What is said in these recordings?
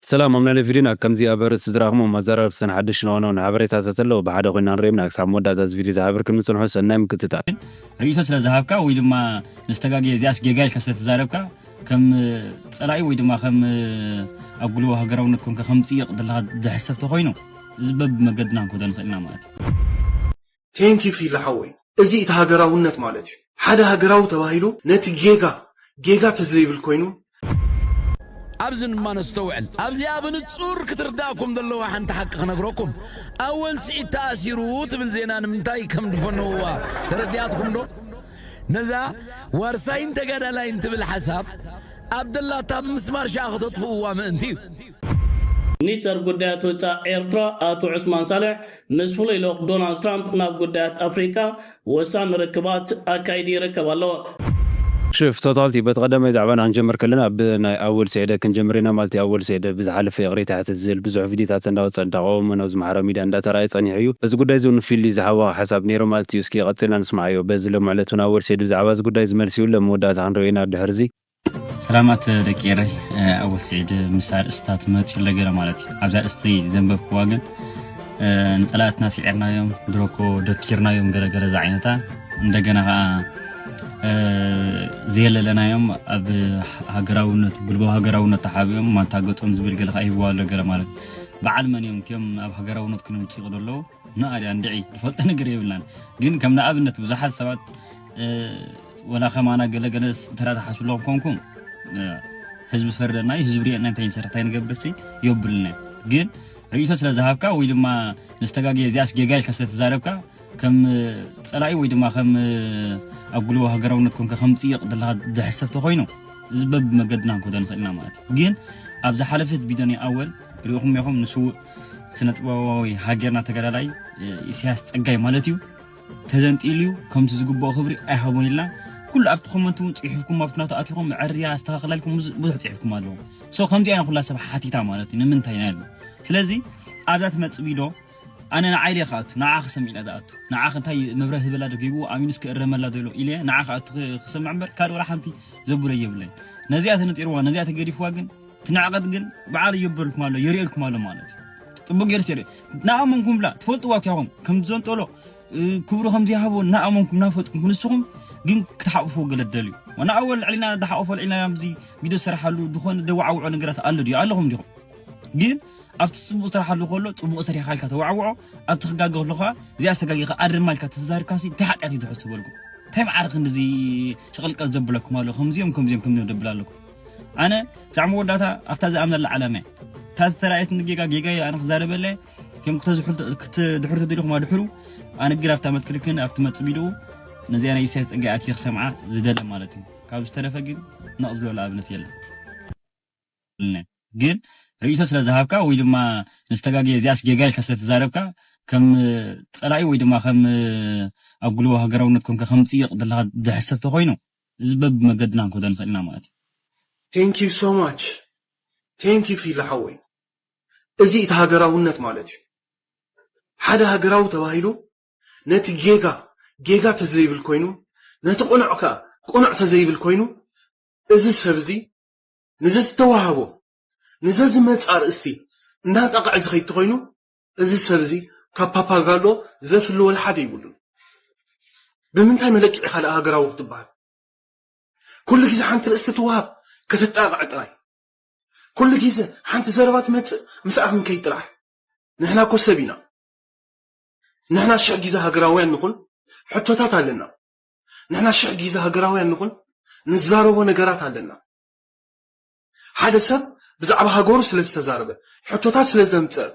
ሰላም ኣብ ናይሎሚ ቪድዮና ከምዚ ኣብ ኣርእስቲ ዝረኣኽምዎም ኣዘራርብትን ሓደሽቲ ንዋናውን ሓበሬታት ተተለዉ ብሓደ ኮይና ንርእዮም ኢና ክሳብ መወዳእታ እዚ ቪድዮ ዝሓበርክምኒ ጽንሑ ሰናይ ምክትታል። ርእይቶ ስለ ዝሃብካ ወይ ድማ ምስ ተጋግየ እዚኣስ ጌጋ ኢልካ ስለ ተዛረብካ ከም ጸላኢ ወይ ድማ ከም ኣብ ጉልቦ ሃገራውነት ኮንካ ከም ጽይቕ ዘለኻ ዝሕሰብ ተኾይኑ እዚ በብመገድና ክንከዶ ንኽእል ኢና ማለት እዩ። Thank you ፊሊ ሓወይ እዚ እቲ ሃገራውነት ማለት እዩ ሓደ ሃገራዊ ተባሂሉ ነቲ ጌጋ ጌጋ ተዘይብል ኮይኑ። ኣብዚ ድማ ነስተውዕል ኣብዚኣ ብንጹር ክትርዳኩም ዘለዋ ሓንቲ ሓቂ ክነግረኩም ኣወል ስዒድ ተኣሲሩ ትብል ዜና ንምንታይ ከም ድፈነውዋ ተረዲኣትኩም ዶ ነዛ ዋርሳይን ተጋዳላይን ትብል ሓሳብ ኣብ ደላታ ብምስማር ሽኣ ክተጥፍእዋ ምእንቲ እዩ። ሚኒስተር ጉዳያት ወጻእ ኤርትራ ኣቶ ዑስማን ሳልሕ ምስ ፍሉይ ልኡኽ ዶናልድ ትራምፕ ናብ ጉዳያት ኣፍሪቃ ወሳኒ ርክባት ኣካይዱ ይርከብ ኣሎ። ሽፍ ቶታልቲ በቲ ቀዳማይ ዛዕባና ክንጀምር ከለና ብ ናይ ኣወል ሴዕደ ክንጀምር ኢና ማለት እዩ ኣወል ሴዕደ ብዝሓለፈ ይቕሬታ ይሓትት ዝል ብዙሕ ቪድዮታት እንዳወጸ እንዳቐወመ ናብዚ ማሕራዊ ሚድያ እንዳተራኣየ ጸኒሑ እዩ በዚ ጉዳይ እዚ ውን ፊሊ ዝሃቦ ሓሳብ ኔሩ ማለት እዩ እስኪ ቀጺልና ንስምዓዮ በዚ ሎምዕለት ውን ኣወል ሴዕደ ብዛዕባ እዚ ጉዳይ እዚ መልሲ ይብሎ ኣብ መወዳእታ ክንሪኦ ኢና ድሕርዚ ሰላማት ደቂ ኤረይ ኣወ ስዒድ ምስ ኣርእስታ ትመጽእ ኣሎ ገለ ማለት እዩ ኣብዛ ኣርእስቲ ዘንበብክዋ ግን ንጸላእትና ስዒርናዮም ድሮኮ ደኪርናዮም ገለገለ ዝዓይነታ እንደገና ከዓ ዘየለለናዮም ኣብ ሃገራውነት ጉልባዊ ሃገራውነት ተሓቢኦም ማንታገጦም ዝብል ገለ ከዓ ይህብዋ ኣሎ ገለ ማለት በዓል መን እዮም እትኦም ኣብ ሃገራውነት ክነምፅኡ ዘለዉ ናዓ ድያ እንድዒ ዝፈልጦ ነገር የብልናን ግን ከም ንኣብነት ብዙሓት ሰባት ወላ ከማና ገለ ገለ እንተ ትሓስቡ ኣለኹም ኮንኩም ህዝቢ ፈርደና እዩ ህዝቢ ሪኤና እንታይ ንሰርሕ እንታይ ንገብርሲ የብልና ግን ርእይቶ ስለ ዝሃብካ ወይ ድማ ንዝተጋገ እዚኣስ ጌጋ ኢልካ ስለ ተዛረብካ ከም ፀላኢ ወይ ድማ ከም ኣብ ጉልቦ ሃገራውነት ኮንካ ከም ፅይቕ ዘለካ ዝሕሰብ ተኮይኑ እዚ በብመገድና ክንከዶ ንኽእል ኢና ማለት እዩ ግን ኣብ ዝሓለፈት ቢዶኒ ኣወል ሪኢኹም ኢኹም ንስውእ ስነጥበባዊ ሃገርና ተጋዳላይ ኢሳያስ ጸጋይ ማለት እዩ ተዘንጢሉ እዩ ከምቲ ዝግብኦ ክብሪ ኣይሃቦን ኢልና ኩሉ ኣብቲ ኮመንት እውን ጽሑፍኩም ኣብቲ ናቱ ኣትኹም ዕርያ ኣስተኻኽላልኩም ብዙሕ ጽሑፍኩም ኣለዎ ሶ ከምዚ ኣይነ ኩላ ሰብ ሓቲታ ማለት እዩ ንምንታይ ናይ ስለዚ ኣብዛ ትመጽእ ቪዶ ኣነ ንዓይ ደይ ክኣቱ ንዓ ክሰምዕ ኢለ ዝኣቱ ንዓ እንታይ መብረህ ዝበላ ዶ ጌግዎ ኣሚኑስ ክእረመላ ዶ ኢሎ ኢለ ንዓ ክኣቱ ክሰምዕ እምበር ካልእ ወላ ሓንቲ ዘብሎ የብለይ ነዚኣ ተነጢርዋ ነዚኣ ተገዲፍዋ ግን እቲ ንዕቀት ግን በዓል ይገብርልኩም ኣሎ የርእልኩም ኣሎ ማለት እዩ ጥቡቅ ገይሩ ሲሪ ናኣመንኩም ብላ ትፈልጥዋ ኪያኹም ከም ዘንጠሎ ክብሩ ከም ዘይሃቦ ናኣመንኩም ናፈልጥኩም ክንስኹም ግን ክትሓቁፉ ገለደል እዩ ዋና ኣወል ልዕሊና ዳሓቆፎ ልዕሊና ኣብዚ ቪድዮ ዝሰራሓሉ ዝኾነ ደዋዓውዖ ነገራት ኣሎ ድዩ ኣለኹም ዲኹም ግን ኣብቲ ፅቡቅ ስራሓሉ ከሎ ፅቡቅ ሰሪሕካ ኢልካ ተዋዕውዖ ኣብቲ ክጋገ ከሎካ እዚኣ ዝተጋጊኻ ኣድርማ ኢልካ ተዛሪብካሲ እንታይ ሓጢኣት እዩ ዝሕዝበልኩም እንታይ መዓር ክንድዚ ሸቀልቀል ዘብለኩም ኣሎ ከምዚኦም ከምዚኦም ከምዚኦም ደብል ኣለኩም ኣነ ክሳዕ መወዳእታ ኣብታ ዝኣምነላ ዓላመ እታ ዝተራእየትኒ ጌጋ ጌጋየ ኣነ ክዛረበለ ከም ክትድሕሩ ተደሊኹም ኣድሕሩ ኣነ ግን ኣብታ መትክልክን ኣብቲ መፅቢድኡ ነዚኣ ናይ ኢሳያስ ፀጋይ ኣትየ ክሰምዓ ዝደለ ማለት እዩ ካብ ዝተረፈ ግን ነቕ ዝበለ ኣብነት የለን ግን ርእይቶ ስለ ዝሃብካ ወይ ድማ ንዝተጋገየ እዚኣስ ጌጋ ኢልካ ስለ ተዛረብካ ከም ፀላኢ ወይ ድማ ከም ኣብ ጉልቦ ሃገራውነት ኮንካ ከም ፅይቕ ዘለካ ዝሕሰብ ተኮይኑ እዚ በቢ መገድና ክንከዶ ንክእል ኢና ማለት እዩ። Thank you so much Thank you ፊሊ ሓወይ እዚ እቲ ሃገራውነት ማለት እዩ ሓደ ሃገራዊ ተባሂሉ ነቲ ጌጋ ጌጋ ተዘይብል ኮይኑ ነቲ ቅኑዕ ከኣ ቅኑዕ ተዘይብል ኮይኑ እዚ ሰብ እዚ ንዘዝተዋሃቦ ንዘዝመጽ ኣርእስቲ እንዳንጣቀዐ ዝከይድ ተኮይኑ እዚ ሰብ እዚ ካብ ፓፓጋሎ ዘፍሊ ወላ ሓደ ይብሉን። ብምንታይ መለክዒ ኢኻ ደኣ ሃገራዊ ክትበሃል? ኩሉ ግዜ ሓንቲ ርእስቲ ትወሃብ ከተጣቕዕ ጥራይ። ኩሉ ግዜ ሓንቲ ዘረባ ትመጽእ ምስኣ ክንከይድ ጥራሕ። ንሕና እኮ ሰብ ኢና። ንሕና ሽሕ ግዜ ሃገራውያን ንኹን ሕቶታት ኣለና። ንሕና ሽሕ ግዜ ሃገራውያን ንኹን ንዛረቦ ነገራት ኣለና። ሓደ ሰብ ብዛዕባ ሃገሩ ስለ ዝተዛረበ፣ ሕቶታት ስለ ዘምጸእ፣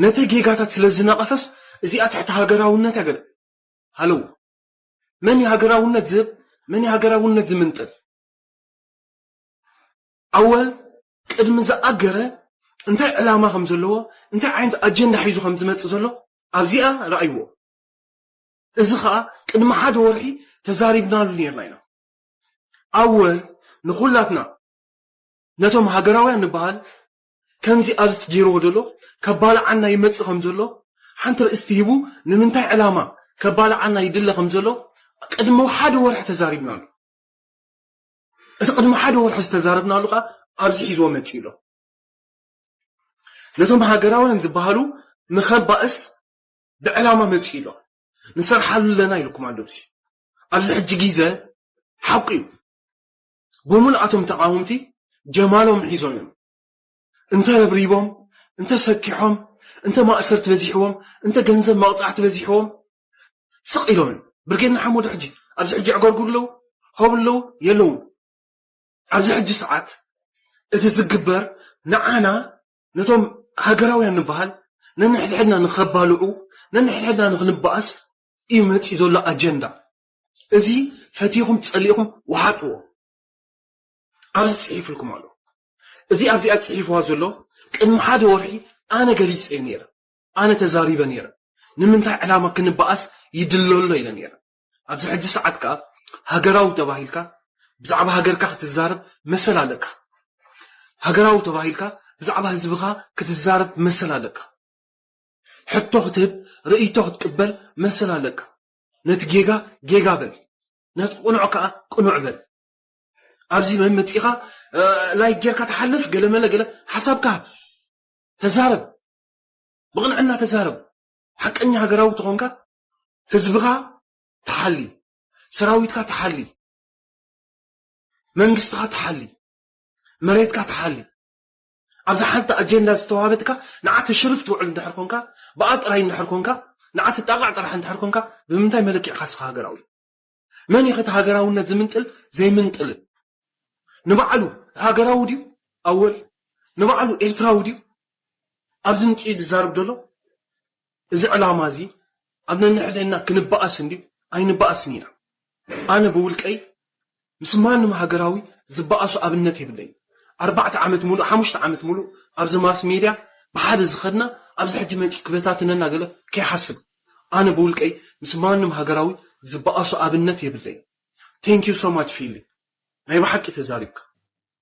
ነቲ ጌጋታት ስለ ዝነቐፈስ እዚኣ ትሕቲ ሃገራውነት እያ ገለ። ሃለው! መን እዩ ሃገራውነት ዝህብ? መን እዩ ሃገራውነት ዝምንጥል? ኣወል ቅድሚ ዝኣገረ እንታይ ዕላማ ከም ዘለዎ፣ እንታይ ዓይነት ኣጀንዳ ሒዙ ከም ዝመጽእ ዘሎ ኣብዚኣ ርኣይዎ። እዚ ኸኣ ቅድሚ ሓደ ወርሒ ተዛሪብናሉ ኔርና ኢና። ኣወ ንኹላትና ነቶም ሃገራውያን ንበሃል ከምዚ ኣብዚ ትጌርዎ ዘሎ ከባልዓና ይመጽእ ከም ዘሎ ሓንቲ ርእስቲ ሂቡ ንምንታይ ዕላማ ከባልዓና ይድለ ከም ዘሎ ቅድሚ ሓደ ወርሒ ተዛሪብናሉ እቲ ቅድሚ ሓደ ወርሒ ዝተዛረብናሉ ከኣ ኣብዚ ሒዝዎ መጺኡ ኣሎ ነቶም ሃገራውያን ዝበሃሉ ንኸባእስ ብዕላማ መጺኡ ኣሎ ንሰርሓሉ ኣለና ኢልኩም ኣሎ እዚ ኣብዚ ሕጂ ግዜ ሓቁ እዩ ብምሉእ ኣቶም ተቃወምቲ ጀማሎም ሒዞም እዮም እንተ ረብሪቦም እንተ ሰኪሖም እንተ ማእሰርቲ በዚሕዎም እንተ ገንዘብ መቕጻዕቲ በዚሕዎም ስቕ ኢሎምን ብርጌድ ንሓመዱ ሕጂ ኣብዚ ሕጂ ዕገርጉር ኣለዉ ሆብ ኣለዉ የለውን ኣብዚ ሕጂ ሰዓት እቲ ዝግበር ንዓና ነቶም ሃገራውያን ንበሃል ነንሕድሕድና ንኸባልዑ ነንሕድሕድና ንኽንበኣስ እዩ መፂኡ ዘሎ ኣጀንዳ እዚ ፈቲኹም ፀሊእኹም ውሓጥዎ ኣብዚ ፅሒፍልኩም ኣሎ እዚ ኣብዚኣ ፅሒፍዋ ዘሎ ቅድሚ ሓደ ወርሒ ኣነ ገሊፀዮ ነይረ ኣነ ተዛሪበ ነይረ ንምንታይ ዕላማ ክንበኣስ ይድሎ ኣሎ ኢለ ነይረ ኣብዚ ሕጂ ሰዓት ከዓ ሃገራዊ ተባሂልካ ብዛዕባ ሃገርካ ክትዛረብ መሰል ኣለካ ሃገራዊ ተባሂልካ ብዛዕባ ህዝብኻ ክትዛረብ መሰል ኣለካ ሕቶ ክትህብ ርእይቶ ክትቅበል መሰል ኣለካ። ነቲ ጌጋ ጌጋ በል ነቲ ቅኑዕ ከኣ ቅኑዕ በል። ኣብዚ መመጺኻ ላይክ ጌርካ ትሓልፍ ገለመለ ገለ ሓሳብካ ሃብ። ተዛረብ ብቕንዕና ተዛረብ። ሓቀኛ ሃገራዊ ተኾንካ ህዝብኻ ትሓሊ፣ ሰራዊትካ ትሓሊ፣ መንግስትኻ ትሓሊ፣ መሬትካ ትሓሊ። ኣብዛ ሓንቲ ኣጀንዳ ዝተዋሃበትካ ንዓ ተሽርፍ ትውዕል እንድሕር ኮንካ፣ ብኣ ጥራይ እንድሕር ኮንካ፣ ንዓ ትጣቓዕ ጥራሕ እንድሕር ኮንካ፣ ብምንታይ መለኪዕካ እስኻ ሃገራዊ? መን ኢዩኸ እቲ ሃገራውነት ዝምንጥል ዘይምንጥልን? ንባዕሉ ሃገራዊ ድዩ ኣወል? ንባዕሉ ኤርትራዊ ድዩ ኣብዚ ምጺኡ ዝዛረብ ዘሎ? እዚ ዕላማ እዚ ኣብ ነንሕድሕድና ክንበኣስ እንድዩ ኣይንበኣስን ኢና። ኣነ ብውልቀይ ምስ ማንም ሃገራዊ ዝበኣሶ ኣብነት የብለይን። ኣርባዕተ ዓመት ሙሉእ ሓሙሽተ ዓመት ሙሉእ ኣብዚ ማስ ሜድያ ብሓደ ዝኸድና ኣብዚ ሕጂ መጺኡ ክበታትነና ገለ ከይሓስብ ኣነ ብውልቀይ ምስ ማንም ሃገራዊ ዝበኣሶ ኣብነት የብለይን። Thank you so much ፊሊ ናይ ብሓቂ ተዛሪብካ።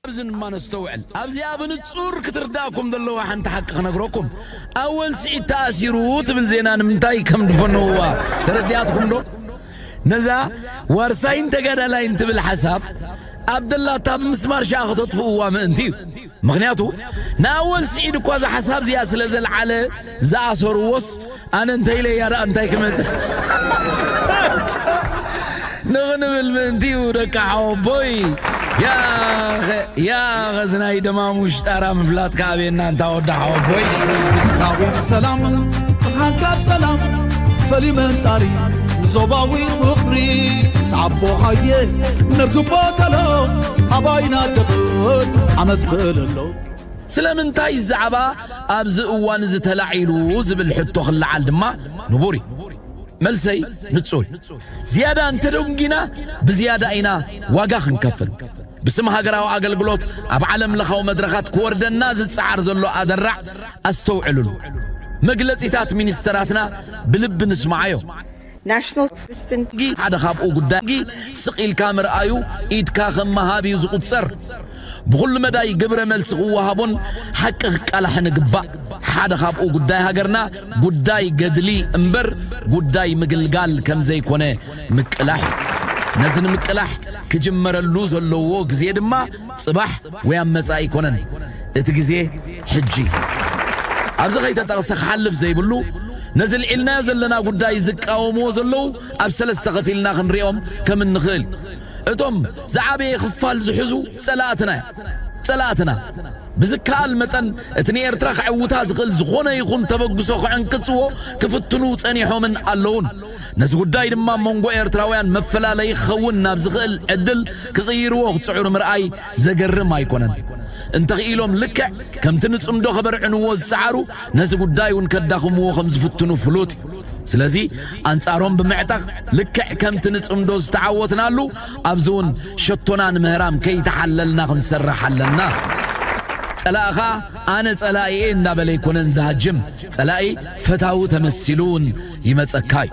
ኣብዚ ድማ ነስተውዕል። ኣብዚኣ ብንጹር ክትርድኣኩም ዘለዋ ሓንቲ ሓቂ ክነግረኩም። ኣወል ስዒድ ተኣሲሩ ትብል ዜና ንምንታይ ከም ድፈነውዋ ተረዲኣትኩም ዶ? ነዛ ዋርሳይን ተጋዳላይን ትብል ሓሳብ ኣብ ደላታ ብምስማር ሽኣ ከተጥፍእዋ ምእንቲ እዩ። ምክንያቱ ንኣወል ስዒድ እኳ እዛ ሓሳብ እዚኣ ስለ ዘልዓለ ዝኣሰርዎስ ኣነ እንታይ ኢለ እያ ደኣ እንታይ ክመጽእ ንኽንብል ምእንቲዩ ደቂ ሓወቦይ ያኸ ያኸ ዝናይ ደማሙሽ ጣራ ምፍላጥካ ኣቤና እንታ ወዲ ሓወቦይ ምስራዊት ሰላም ብርሃንካ ሰላም ፈልዩ መንጣሪ ንዞባዊ ፍቕሪ ምስ ዓቦኻየ ንርግቦ ተሎ ኣባይና ደኽን ዓመፅ ክእለሎ ስለምንታይ ዛዕባ ኣብዚ እዋን'ዚ ተላዒሉ ዝብል ሕቶ ክለዓል ድማ ንቡር እዩ። መልሰይ ንጹር እዩ። ዝያዳ እንተደንጒና ብዝያዳ ኢና ዋጋ ክንከፍል። ብስም ሃገራዊ ኣገልግሎት ኣብ ዓለም ለኻዊ መድረኻት ክወርደና ዝጸዓር ዘሎ ኣደራዕ ኣስተውዕልሉ። መግለጺታት ሚኒስተራትና ብልቢ ንስማዓዮ። National Statistics Inc። ሓደ ካብኡ ጉዳይ ስቕ ኢልካ ምርኣዩ ኢድካ ከም ምሃብ እዩ ዝቑጸር። ብኹሉ መዳይ ግብረ መልሲ ክወሃቦን ሓቂ ክቃላሕን እግባእ። ሓደ ካብኡ ጉዳይ ሃገርና ጉዳይ ገድሊ እምበር ጉዳይ ምግልጋል ከም ዘይኮነ ምቅላሕ እዩ። ነዚ ንምቅላሕ ክጅመረሉ ዘለዎ ግዜ ድማ ጽባሕ ወይ ኣብ መጻኢ ኣይኮነን እቲ ግዜ ሕጂ እዩ። ኣብዚ ከይተጠቕሰ ክሓልፍ ዘይብሉ ነዚ ኣልዒልናዮ ዘለና ጉዳይ ዝቃወምዎ ዘለዉ ኣብ ሰለስተ ከፊልና ክንሪኦም ከም እንኽእል እዩ። እቶም ዝዓበየ ክፋል ዝሕዙ ጸላእትና እዮም። ጸላእትና ብዝከኣል መጠን እቲ ንኤርትራ ከዕውታ ዝኽእል ዝኾነ ይኹን ተበግሶ ክዕንቅጽዎ ክፍትኑ ጸኒሖምን ኣለዉን። ነዚ ጉዳይ ድማ ኣብ መንጎ ኤርትራውያን መፈላለዪ ክኸውን ናብ ዝኽእል ዕድል ክቕይርዎ ክጽዕሩ ምርኣይ ዘገርም ኣይኮነን። እንተኽኢሎም ልክዕ ከምቲ ንጽምዶ ከበርዕንዎ ዝጸዓሩ ነዚ ጉዳይ እውን ከዳኽምዎ ከም ዝፍትኑ ፍሉጥ እዩ። ስለዚ ኣንጻሮም ብምዕጠቕ ልክዕ ከምቲ ንጽምዶ ዝተዓወትናሉ ኣብዚ እውን ሸቶና ንምህራም ከይተሓለልና ክንሰርሕ ኣለና። ጸላእኻ ኣነ ጸላኢየ እንዳበለ ኣይኮነን ዝሃጅም፣ ጸላኢ ፈታዊ ተመሲሉ እውን ይመጸካ እዩ።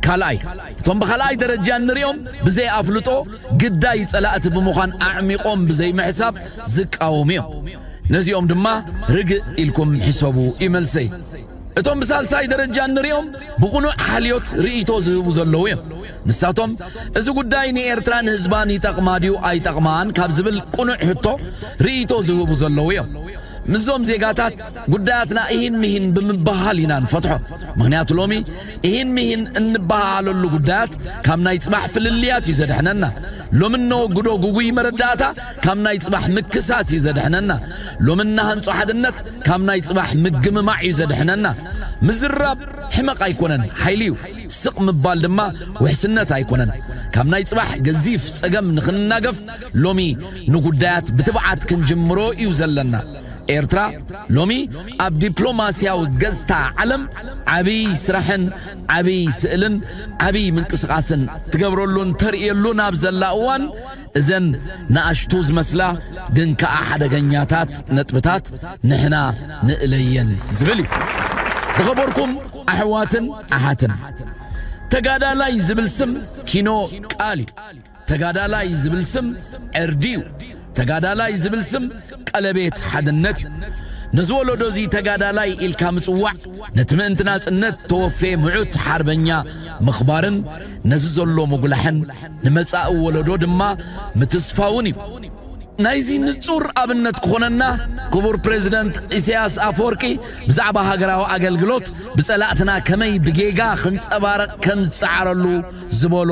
ካልኣይ እቶም ብኻልኣይ ደረጃ እንሪኦም ብዘይ ኣፍልጦ፣ ግዳይ ጸላእቲ ብምዃን ኣዕሚቖም ብዘይምሕሳብ ዝቃወሙ እዮም። ነዚኦም ድማ ርግእ ኢልኩም ሕሰቡ እዩ መልሰይ። እቶም ብሳልሳይ ደረጃ እንሪኦም ብቕኑዕ ሓልዮት ርእይቶ ዝህቡ ዘለዉ እዮም። ንሳቶም እዚ ጉዳይ ንኤርትራን ህዝባን ይጠቕማ ድዩ ኣይጠቕማን ካብ ዝብል ቅኑዕ ሕቶ ርእይቶ ዝህቡ ዘለዉ እዮም። ምስዞም ዜጋታት ጉዳያትና እሂን ምሂን ብምብህሃል ኢና ንፈትሖ። ምኽንያቱ ሎሚ ኢሂን ምሂን እንበሃሃለሉ ጉዳያት ካብ ናይ ጽባሕ ፍልልያት እዩ ዘድሕነና። ሎሚ እነወግዶ ግጉይ መረዳእታ ካብ ናይ ጽባሕ ምክሳስ እዩ ዘድሕነና። ሎሚ እነሃንጾ ሓድነት ካብ ናይ ጽባሕ ምግምማዕ እዩ ዘድሕነና። ምዝራብ ሕመቕ ኣይኮነን፣ ሓይሊ እዩ። ስቕ ምባል ድማ ውሕስነት ኣይኮነን። ካብ ናይ ጽባሕ ገዚፍ ጸገም ንኽንናገፍ ሎሚ ንጉዳያት ብትብዓት ክንጅምሮ እዩ ዘለና። ኤርትራ ሎሚ ኣብ ዲፕሎማስያዊ ገጽታ ዓለም ዓቢይ ስራሕን ዓቢይ ስእልን ዓቢይ ምንቅስቓስን ትገብረሉን ተርእየሉን ኣብ ዘላ እዋን እዘን ንኣሽቱ ዝመስላ ግን ከኣ ሓደገኛታት ነጥብታት ንሕና ንእለየን ዝብል እዩ። ዝኸበርኩም ኣሕዋትን ኣሓትን ተጋዳላይ ዝብል ስም ኪኖ ቃል እዩ። ተጋዳላይ ዝብል ስም ዕርዲ እዩ። ተጋዳላይ ዝብል ስም ቀለቤት ሓድነት እዩ። ነዚ ወለዶ እዚ ተጋዳላይ ኢልካ ምጽዋዕ ነቲ ምእንቲ ናጽነት ተወፌ ምዑት ሓርበኛ ምኽባርን ነዚ ዘሎ ምጉላሕን ንመጻኢ ወለዶ ድማ ምትስፋውን እዩ። ናይዚ ንጹር ኣብነት ክኾነና ክቡር ፕሬዚደንት ኢሳያስ ኣፈወርቂ ብዛዕባ ሃገራዊ ኣገልግሎት ብጸላእትና ከመይ ብጌጋ ክንጸባረቕ ከም ዝጸዓረሉ ዝበሎ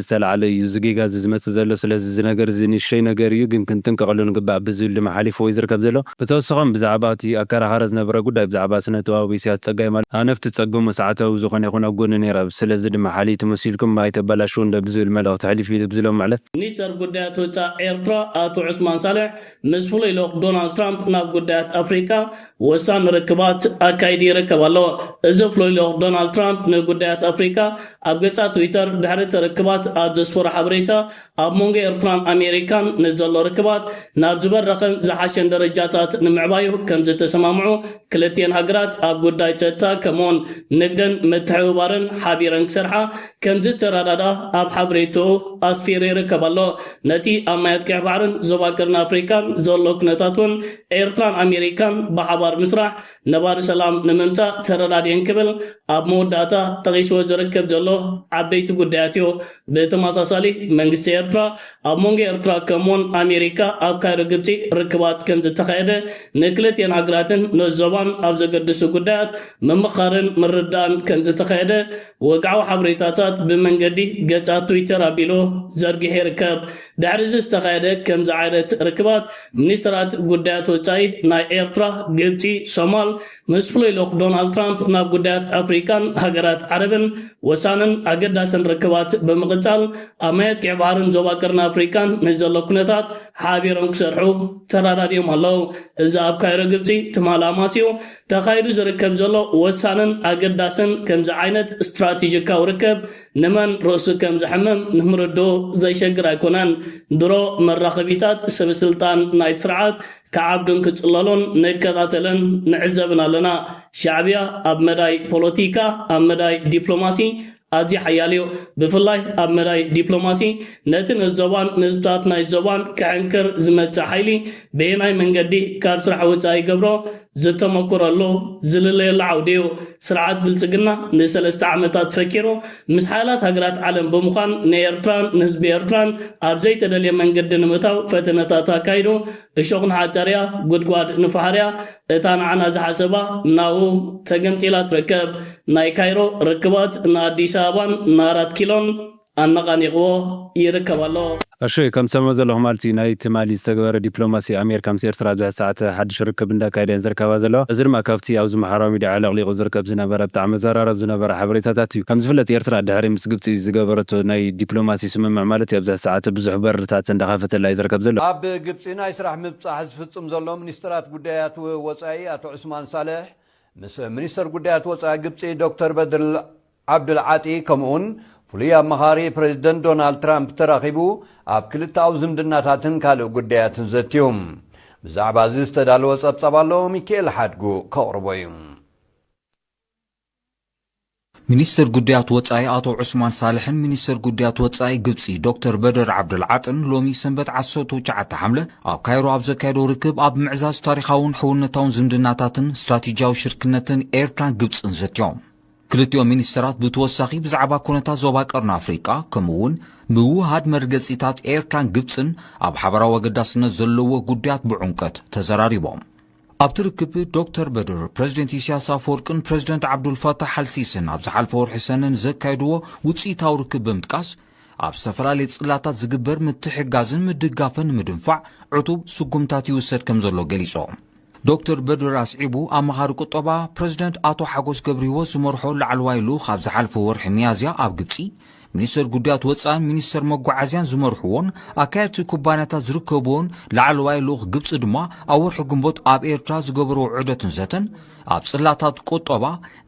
ዝተላዕለ እዩ እዚ ጌጋ እዚ ዝመፅእ ዘሎ። ስለዚ እዚ ነገር እዚ ንእሽቶይ ነገር እዩ ግን ክንጥንቀቐሉ ንግባእ ብዝብል ድማ ሓሊፍዎ እዩ ዝርከብ ዘሎ። ብተወሰኸም ብዛዕባ እቲ ኣከራኻሪ ዝነበረ ጉዳይ ብዛዕባ ስነ ጥበባዊ ኢሰያስ ፀጋይ ማለት ሃነፍቲ ፀገሙ ሰዓታዊ ዝኾነ ይኹን ኣብ ጎኒ ነይረ ኣብ ስለዚ ድማ ሓልይቱ መሲልኩም ኣይተባላሽዉ እንዶ ብዝብል መልእኽቲ ሕሊፍ ኢሉ ብዝሎም ማለት። ሚኒስተር ጉዳያት ወጻእ ኤርትራ ኣቶ ዑስማን ሳልሕ ምስ ፍሉይ ልኡኽ ዶናልድ ትራምፕ ናብ ጉዳያት ኣፍሪቃ ወሳኒ ርክባት ኣካይዱ ይርከብ ኣሎ። እዚ ፍሉይ ልኡኽ ዶናልድ ትራምፕ ንጉዳያት ኣፍሪቃ ኣብ ገጻት ትዊተር ድሕሪ እቲ ርክባት ኣብ ዘስፈሮ ሓበሬታ ኣብ መንጎ ኤርትራን ኣሜሪካን ንዘሎ ርክባት ናብ ዝበረኸን ዝሓሸን ደረጃታት ንምዕባዩ ከምዝተሰማምዑ ክልቲኤን ሃገራት ኣብ ጉዳይ ጸጥታ ከምኡ'ውን ንግድን ምትሕብባርን ሓቢረን ክሰርሓ ከምዝተረዳድኣ ኣብ ሓበሬትኡ ኣስፊሩ ይርከብ ኣሎ። ነቲ ኣብ ማያት ቀይሕ ባሕርን ዞባ ቀርኒ ኣፍሪቃን ዘሎ ኩነታት እውን ኤርትራን ኣሜሪካን ብሓባር ምስራሕ ነባሪ ሰላም ንምምጻእ ተረዳዲኤን ክብል ኣብ መወዳእታ ጠቒስዎ ዝርከብ ዘሎ ዓበይቲ ጉዳያት እዩ። ብተመሳሳሊ መንግስቲ ኤርትራ ኣብ መንጎ ኤርትራ ከምኡውን ኣሜሪካ ኣብ ካይሮ ግብጺ ርክባት ከምዝተኻየደ ንክልቲኤን ሃገራትን ነዚ ዞባን ኣብ ዘገድሱ ጉዳያት ምምኻርን ምርድዳእን ከምዝተኻየደ ወግዓዊ ሓበሬታታት ብመንገዲ ገጻት ትዊተር ኣቢሉ ዘርጊሑ ይርከብ። ድሕሪ'ዚ ዝተኻየደ ከምዚ ዓይነት ርክባት፣ ሚኒስተራት ጉዳያት ወጻኢ ናይ ኤርትራ፣ ግብጺ፣ ሶማል ምስ ፍሉይ ልኡኽ ዶናልድ ትራምፕ ናብ ጉዳያት ኣፍሪቃን ሃገራት ዓረብን ወሳንን ኣገዳስን ርክባት ብምቕጻል ኣብ ማያት ቀይሕ ባሕርን ዞባ ቀርኒ ኣፍሪቃን ንዘሎ ኩነታት ሓቢሮም ክሰርሑ ተረዳዲኦም ኣለዉ። እዚ ኣብ ካይሮ ግብጺ ትማሊ ኣማስዩ ተኻይዱ ዝርከብ ዘሎ ወሳንን ኣገዳስን ከምዚ ዓይነት ስትራቴጂካዊ ርከብ ንመን ርእሱ ከም ዘሕምም ንምርድኡ ዘሸግር ኣይኮነን። ድሮ መራኸቢታት ሰበ ስልጣን ናይቲ ስርዓት ክዓብዱን ክጽለሉን ንከታተልን ንዕዘብን ኣለና። ሻዕብያ ኣብ መዳይ ፖለቲካ፣ ኣብ መዳይ ዲፕሎማሲ፣ ኣዝዩ ሓያልዮ። ብፍላይ ኣብ መዳይ ዲፕሎማሲ ነቲ ነዚ ዞባን ንህዝብታት ናይዚ ዞባን ክሕንክር ዝመጽእ ሓይሊ በየናይ መንገዲ ካብ ስራሕ ወጻኢ ይገብሮ ዝተመኩረሉ ዝልለየሉ ዓውዲዮ። ስርዓት ብልጽግና ንሰለስተ ዓመታት ፈኪሩ ምስ ሓያላት ሃገራት ዓለም ብምዃን ንኤርትራን ንህዝቢ ኤርትራን ኣብ ዘይተደልየ መንገዲ ንምእታው ፈተነታት ኣካይዱ። እሾኽ ንሓጸርያ ጉድጓድ ንፋሕርያ እታ ንዓና ዝሓሰባ ናሁ ተገምጢላ ትርከብ ናይ ካይሮ ርክባት ንኣዲስ ኣበባን ንኣራት ኪሎን ኣነቓኒቕዎ ይርከብ ኣሎ። ኣሹይ ከም ትሰምዑ ዘለኹም ኣልቲ ናይ ትማሊ ዝተገበረ ዲፕሎማሲ ኣሜርካ ምስ ኤርትራ ኣብ ዝሐዚ ሰዓት ሐድሽ ርክብ እንዳካየዳ እየን ዝርከባ ዘለዋ እዚ ድማ ካብቲ ኣብዚ ማሕራዊ ሚድያ ኣዕለቅሊቁ ዝርከብ ዝነበረ ብጣዕሚ ዘራረብ ዝነበረ ሐበሬታታት እዩ ከምዝፍለጥ ኤርትራ ድሕሪ ምስ ግብጺ ዝገበረቶ ናይ ዲፕሎማሲ ስምምዕ ማለት እዩ ኣብዚሐዚ ሰዓት ብዙሕ በርታት እንዳከፈተላ እዩ ዝርከብ ዘሎ። ግብጺ ናይ ስራሕ ምብጻሕ ዝፍጽም ዘሎ ሚኒስተራት ጉዳያት ወጻኢ ኣቶ ዑስማን ሳልሕ ምስ ሚኒስተር ጉዳያት ወጻኢ ግብጺ ዶክተር በድር ዓብድል ዓጢ ከምኡ'ውን ፍሉይ ኣማኻሪ ፕረዚደንት ዶናልድ ትራምፕ ተራኺቡ ኣብ ክልተኣዊ ዝምድናታትን ካልእ ጉዳያትን ዘትዩ። ብዛዕባ'ዚ ዝተዳለወ ጸብጻብ ኣሎ፣ ሚኪኤል ሓድጉ ከቕርቦ'ዩ። ሚኒስትር ጉዳያት ወጻኢ ኣቶ ዑስማን ሳልሕን ሚኒስትር ጉዳያት ወጻኢ ግብጺ ዶክተር በደር ዓብደልዓጥን ሎሚ ሰንበት ዓሰርተ ትሽዓተ ሓምለ ኣብ ካይሮ ኣብ ዘካየዶ ርክብ ኣብ ምዕዛዝ ታሪኻውን ሕውነታውን ዝምድናታትን ስትራቴጂያዊ ሽርክነትን ኤርትራን ግብጽን ዘትዮም። ክልቲኦም ሚኒስትራት ብተወሳኺ ብዛዕባ ኩነታት ዞባ ቀርኒ ኣፍሪቃ ከምኡ እውን ምውህሃድ መርገጺታት ኤርትራን ግብጽን ኣብ ሓበራዊ ኣገዳስነት ዘለዎ ጉዳያት ብዑምቀት ተዘራሪቦም። ኣብቲ ርክብ ዶክተር በድር ፕረዚደንት ኢሳያስ ኣፈወርቅን ፕረዚደንት ዓብዱልፋታሕ ኣልሲስን ኣብ ዝሓልፈ ወርሒ ሰነ ንዘካየድዎ ውፅኢታዊ ርክብ ብምጥቃስ ኣብ ዝተፈላለየ ጽላታት ዝግበር ምትሕጋዝን ምድጋፈን ንምድንፋዕ ዕቱብ ስጉምታት ይውሰድ ከም ዘሎ ገሊጾም። ዶክተር በድር ኣስዒቡ ኣማኻሪ ቁጠባ ፕረዚደንት ኣቶ ሓጎስ ገብርሂወት ዝመርሖ ላዕለዋይ ልኡኽ ኣብ ዝሓልፈ ወርሒ ሚያዝያ ኣብ ግብጺ ሚኒስተር ጉዳያት ወጻእን ሚኒስተር መጓዓዝያን ዝመርሕዎን ኣካየድቲ ኩባንያታት ዝርከብዎን ላዕለዋይ ልኡኽ ግብጺ ድማ ኣብ ወርሒ ግንቦት ኣብ ኤርትራ ዝገበርዎ ዑደትን ዘተን ኣብ ጽላታት ቁጠባ፣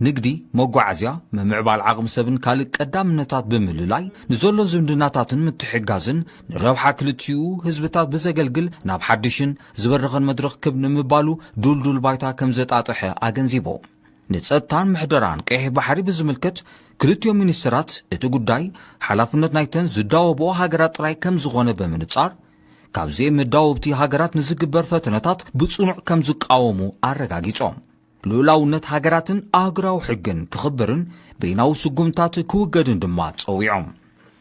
ንግዲ፣ መጓዓዝያ፣ ምምዕባል ዓቕሚ ሰብን ካልእ ቀዳምነታት ብምልላይ ንዘሎ ዝምድናታትን ምትሕግጋዝን ንረብሓ ክልቲኡ ህዝብታት ብዘገልግል ናብ ሓድሽን ዝበረኸን መድረኽ ክብ ንምባሉ ድልዱል ባይታ ከምዘጣጠሐ ኣገንዚቦም። ንጸጥታን ምሕደራን ቀይሕ ባሕሪ ብዝምልከት ክልቲኦም ሚኒስተራት እቲ ጉዳይ ሓላፍነት ናይተን ዝዳወብኦ ሃገራት ጥራይ ከም ዝኾነ ብምንጻር ካብዚኤን መዳወብቲ ሃገራት ንዝግበር ፈተነታት ብጽኑዕ ከም ዝቃወሙ ኣረጋጊጾም። ልኡላውነት ሃገራትን ኣህጉራዊ ሕግን ክኽበርን በይናዊ ስጉምትታት ክውገድን ድማ ጸዊዖም።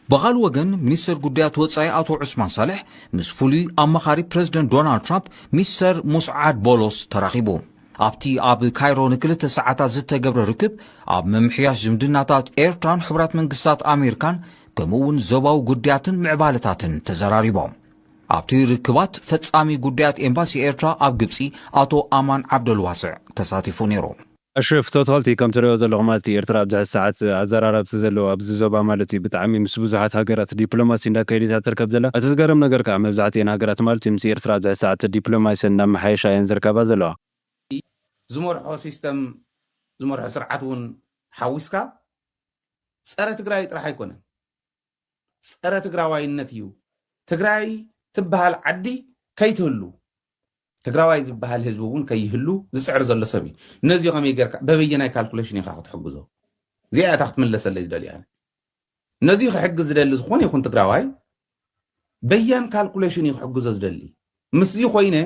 ብኻልእ ወገን ሚኒስተር ጉዳያት ወጻኢ ኣቶ ዑስማን ሳልሕ ምስ ፍሉይ ኣማኻሪ ፕረዚደንት ዶናልድ ትራምፕ ሚስተር ሙስዓድ ቦሎስ ተራኺቡ። ኣብቲ ኣብ ካይሮ ንክልተ ሰዓታት ዝተገብረ ርክብ፣ ኣብ ምምሕያሽ ዝምድናታት ኤርትራን ሕቡራት መንግስታት ኣሜሪካን ከምኡ'ውን ዞባዊ ጉዳያትን ምዕባለታትን ተዘራሪቦም። ኣብቲ ርክባት ፈጻሚ ጉዳያት ኤምባሲ ኤርትራ ኣብ ግብጺ ኣቶ ኣማን ዓብደልዋስዕ ተሳቲፉ ነይሩ። ኣሽረፍ ቶታልቲ ከምትሪኦ ዘለኹ ማልቲ ኤርትራ ኣብዚ ሐዚ ሰዓት ኣዘራረብቲ ዘለዎ ኣብ እቲ ዞባ ማለት እዩ ብጣዕሚ ምስ ብዙሓት ሃገራት ዲፕሎማሲ እንዳካየደት እያ ትርከብ ዘላ እቲ ዝገርም ነገር ካኣ መብዛሕቲኤን ሃገራት ማለት እዩ ምስ ኤርትራ ኣብዚ ሕዚ ሳዓት ዲፕሎማሲኤን እንዳማሓየሻ እየን ዝርከባ ዘለዋ። እቲ ዝመርሖ ሲስተም ዝመርሖ ስርዓት ውን ሓዊስካ ጸረ ትግራይ ጥራሕ ኣይኮነን ጸረ ትግራዋይነት እዩ ትግራይ ትባሃል ዓዲ ከይትህሉ ትግራዋይ ዝበሃል ህዝቢ እውን ከይህሉ ዝፅዕር ዘሎ ሰብ እዩ ነዚ ከመይ ጌርካ በበየናይ ካልኩሌሽን ኢኻ ክትሕግዞ እዚኣ እታ ክትምለሰለይ ዝደልያ ነዚ ክሕግዝ ዝደሊ ዝኾነ ይኹን ትግራዋይ በያን ካልኩሌሽን እዩ ክሕግዞ ዝደሊ ምስዚ ኮይነ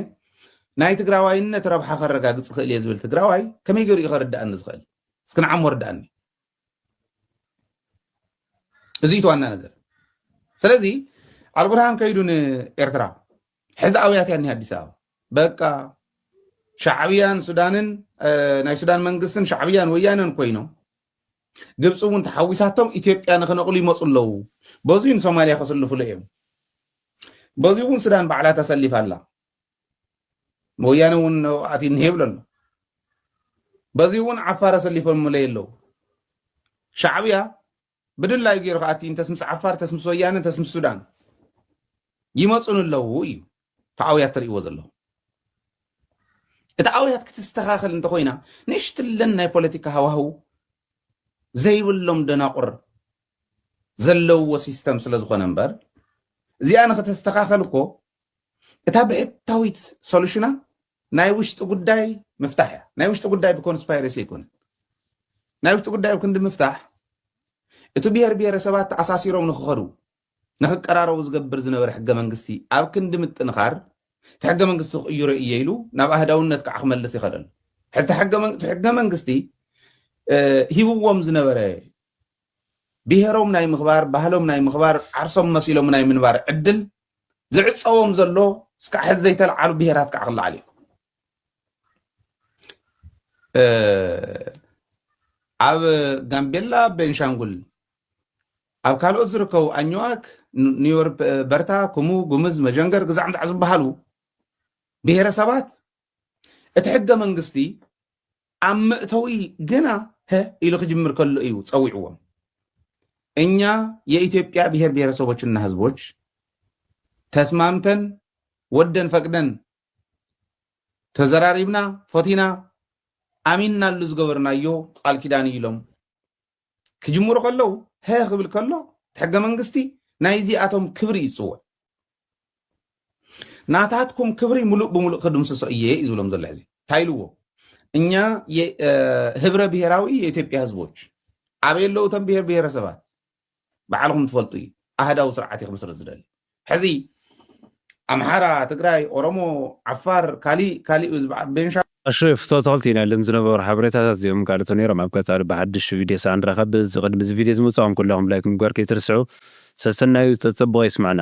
ናይ ትግራዋይነት ረብሓ ከረጋግፅ ክእል እየ ዝብል ትግራዋይ ከመይ ገይሩ እዩ ከርዳእኒ ዝኽእል እስኪ ንዓሞ ርዳእኒ እዚ እቲ ዋና ነገር ስለዚ ኣልቡርሃን ከይዱ ንኤርትራ ሕዚ ኣውያት እያ እኒሃ ኣዲስ ኣበባ በቃ ሻዕብያን ሱዳንን እ፣ ናይ ሱዳን መንግስትን ሻዕብያን ወያነን ኮይኖም ግብፂ እውን ተሓዊሳቶም ኢትዮጵያ ንክነቕሉ ይመፁ ኣለዉ በዙይ ንሶማልያ ከስልፍሉ እዮም በዙይ እውን ሱዳን ባዕላ ተሰሊፋ ኣላ ወያነ እውን ኣቲ እኒሄ ይብሎ ኣሎ በዙይ እውን ዓፋር ኣሰሊፎምለይ ኣለዉ ሻዕብያ ብድላዩ ገይሩ ከኣ እቲ እንተስ ምስ ዓፋር እንተስ ምስ ወያነ እንተስ ምስ ሱዳን ይመጹን ኣለዉ እዩ እቲ ኣውያት ትርእይዎ ዘለኹም እቲ ኣውያት ክትስተኻኸል እንተኾይና ንእሽትለን ናይ ፖለቲካ ሃዋህው ዘይብሎም ደናቑር ዘለውዎ ሲስተም ስለ ዝኾነ እምበር እዚኣ ንክተስተኻኸል እኮ እታ ብሕታዊት ሶሉሽና ናይ ውሽጢ ጉዳይ ምፍታሕ እያ ናይ ውሽጢ ጉዳይ ብኮንስፓይረሲ ኣይኮነን ናይ ውሽጢ ጉዳይ ኣብ ክንዲ ምፍታሕ እቲ ብሄር ብሄረሰባት ተኣሳሲሮም ንክኸዱ ንክቀራረቡ ዝገብር ዝነበረ ሕገ መንግስቲ ኣብ ክንዲ ምጥንኻር እቲ ሕገ መንግስቲ ክቅይሮ እየ ኢሉ ናብ ኣህዳውነት ከዓ ክመልስ ይኸደሉ ሕዚ ሕገ መንግስቲ ሂብዎም ዝነበረ ብሄሮም ናይ ምኽባር ባህሎም ናይ ምኽባር ዓርሶም መሲሎም ናይ ምንባር ዕድል ዝዕፀዎም ዘሎ እስካዕ ሕዚ ዘይተለዓሉ ብሄራት ከዓ ክለዓል እዩ ኣብ ጋምቤላ ቤንሻንጉል ኣብ ካልኦት ዝርከቡ ኣኝዋክ ኒዮር በርታ ኩሙ ጉምዝ መጀንገር ግዛዕምዛዕ ዝበሃሉ ብሄረሰባት እቲ ሕገ መንግስቲ ኣብ መእተዊ ገና ሀ ኢሉ ክጅምር ከሎ እዩ ጸዊዕዎም። እኛ የኢትዮጵያ ብሄር ብሄረሰቦችና ህዝቦች ተስማምተን ወደን ፈቅደን ተዘራሪብና ፈቲና ኣሚንናሉ ዝገበርናዮ ቃል ኪዳን እዩ ኢሎም ክጅምሩ ከለዉ ሀ ክብል ከሎ ሕገ መንግስቲ ናይ እዚኣቶም ክብሪ እዩ ዝፅውዕ ናታትኩም ክብሪ ሙሉእ ብሙሉእ ክድምስሶ እየ እዩ ዝብሎም ዘሎ ሕዚ እንታይ ኢልዎ እኛ ህብረ ብሔራዊ የኢትዮጵያ ህዝቦች ኣበይ ኣለዉ እቶም ብሔር ብሔረሰባት ባዕልኹም ትፈልጡ እዩ ኣህዳዊ ስርዓት እዩ ክምስረት ዝደሊ ሕዚ ኣምሓራ ትግራይ ኦሮሞ ዓፋር ካሊእ ካሊእ እዩ ዝበሃል ቤንሻ ኣሹ ፍቶቶልቲ ናይ ልም ዝነበሩ ሓበሬታታት እዚኦም ጋልቱ ነይሮም ኣብ ቀጻሊ ብሓድሽ ቪድዮ ሳዕ ንራኸብ እዚ ቅድሚ እዚ ቪድዮ ዝመጻኹም ኩላኹም ላይክ ምግባር ከይትርስዑ ሰሰናዩ ጸጸቡቀ ይስማዕና።